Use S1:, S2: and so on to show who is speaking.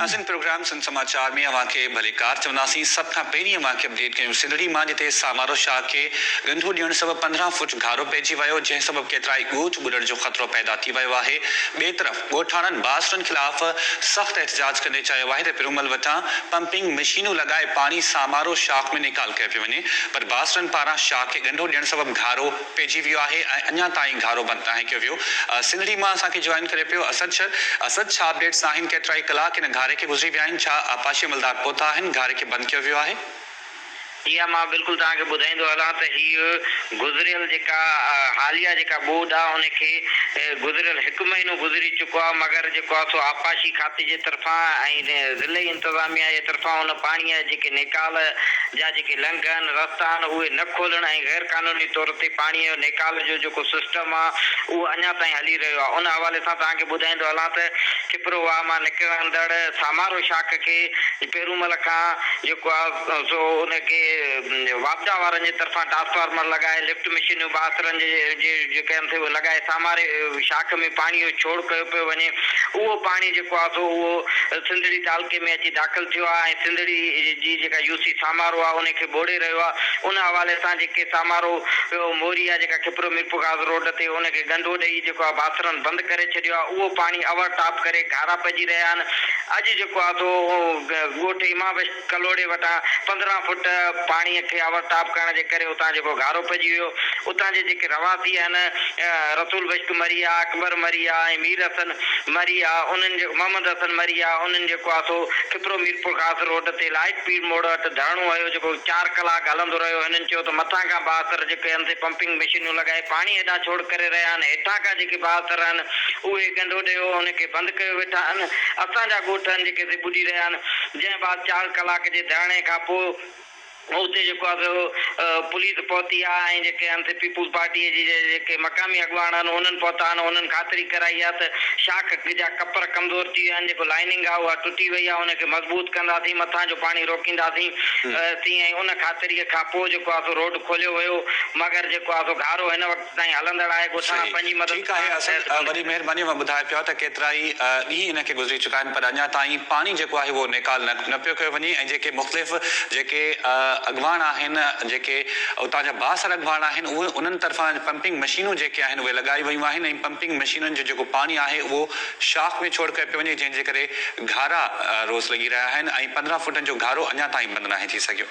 S1: اسين پروگرام سنڌ سماچار ۾ اوهان کي ڀلي ڪار چونداسين. سڀ کان پهرين اوهان کي اپڊيٽ ڪيون سنڌڙي مان جتي سامارو شاهه کي ڳنڍو ڏيڻ سبب پندرهن فوٽ گهارو پئجي ويو جنهن سبب ڪيترائي ڳوٺ ٻڏڻ جو خطرو پيدا ٿي ويو آهي ٻئي طرف ڳوٺاڻن باسٽن خلاف سخت احتجاج ڪندي چيو آهي ته پرومل وٽان پمپنگ مشينون لڳائي پاڻي سامارو شاخ ۾ نيڪال ڪيو پيو وڃي پر باسٽن پاران شاخ کي ڳنڍو ڏيڻ سبب گهارو پئجي ويو آهي ۽ اڃا تائين گهارو بند ناهي ڪيو ويو سنڌڙي مان اسان کي جوائن ڪري پيو اسد شر اسد ڇا اپڊيٽس آهن ڪيترائي ڪلاڪ هن گهاري کي گذري ويا آهن ڇا آبپاشي عملدار پهتا آهن گهاري کي بند ڪيو ويو آهي. اها
S2: مان بلڪل توهان کي ٻڌائيندو هلان ته هيء گذريل جيڪا حاليه جيڪا ٻوڏ آ ان کي گذريل هڪ مهينو گذري چڪو آ مگر جيڪو آ سو آبپاشي کاتي جي طرفان ۽ ضلعي انتظاميا جي طرفان ان پاڻيء جا جيڪي نيڪال جا جيڪي لنگهه آهن رستا آهن اهي نه کولڻ ۽ غير قانوني طور تي پاڻيء جو نيڪال جو جيڪو سسٽم آ اهو اڃا تائين هلي رهيو آ ان حوالي سان توهان کي ٻڌائيندو هلان ته کپروواهه مان نڪرندڙ سامارو شاخ کي ملڪ کان جيڪو آ سو ان کي واپڊا وارن جي طرفان ٽرانسفارمر لڳائي لفٽ مشينيون بااثرن جي جيڪي آهن سي اهي لڳائي ساماري شاخ ۾ پاڻي جو ڇوڙ ڪيو پيو وڃي اهو پاڻي جيڪو آ سو اهو سنڌڙي تعلقي ۾ اچي داخل ٿيو آ ۽ سنڌڙي جي جيڪا يو سي سامارو آ ان کي ٻوڙي رهيو آ ان حوالي سان جيڪي سامارو ٻيو موري آ جيڪا کپرو ميرپورخاص روڊ تي ان کي ڳنڍو ڏئي جيڪو آ بااثرن بند ڪري ڇڏيو آ اهو پاڻي اوور ٽاپ ڪري گهارا پئجي رهيا آهن اڄ جيڪو پاتو هو. ڳوٺ ايمان بخش ڪلهوڙي وٽان پندرهن فوٽ پاڻيء کي آور تاب ڪرڻ جي ڪري اتان جيڪو گهارو پئجي ويو، اتان جي جيڪي رهواسي آهن، رسول بخش مريا، اڪبر مريا ۽ مير حسن مريا، انهن جي محمد حسن مريا، انهن جيڪو آ سو کپرو ميرپورخاص روڊ تي لائيٽ پيڙ موڙ وٽ ڌرڻو هنيو، جيڪو چار ڪلاڪ هلندو رهيو. هنن چيو ته مٿان کان بااثر جيڪي هنڌ تي پمپنگ مشينيون لڳائي پاڻي هيڏانهن ڇوڙ ڪري رهيا آهن، هيٺان کان جيڪي بااثر آهن، اهي ڳنڍو ڏيئو ان کي بند ڪيو ويٺا آهن. اسان جا ڳوٺ آهن جيڪي اتي ٻڏي رهيا آهن جنهن بعد چار ڪلاڪ جي ڌرڻي کان پوء اتي جيڪو آهي سو پوليس پهتي آهي ۽ جيڪي آهن سي پيپلز پارٽي جي جيڪي مقامي اڳواڻ آهن انهن پهتا آهن انهن خاطري ڪرائي آهي ته شاخ جا ڪپر ڪمزور ٿي ويا آهن جيڪو لائننگ آهي اها ٽٽي وئي آهي ان کي مضبوط ڪنداسين مٿان جو پاڻي روڪينداسين سين ۽ ان خاطري کان پوء جيڪو آهي سو روڊ کوليو ويو مگر جيڪو آهي سو گهارو هن وقت تائين هلندڙ آهي ڳوٺاڻا صحيح پنهنجي مدد ٺيڪ آهي اسد وڏي مهرباني اوهان
S1: ٻڌايو پيا ته ڪيترائي ڏينهن هن کي گذري چڪا آهن پر اڃا تائين پاڻي جيڪو آهي اهو نيڪال نه پيو ڪيو وڃي ۽ جيڪي مختلف جيڪي اڳواڻ آهن جيڪي اتان جا بااثر اڳواڻ آهن اهي انهن طرفان پمپنگ مشينون جيڪي آهن اهي لڳائي ويون آهن ۽ پمپنگ مشينن جو جيڪو پاڻي آهي اهو شاخ ۾ ڇوڙ ڪيو پيو وڃي جنهن جي ڪري گهارا روز لڳي رهيا آهن ۽ پندرهن فوٽن جو گهارو اڃا تائين بند ناهي ٿي سگهيو.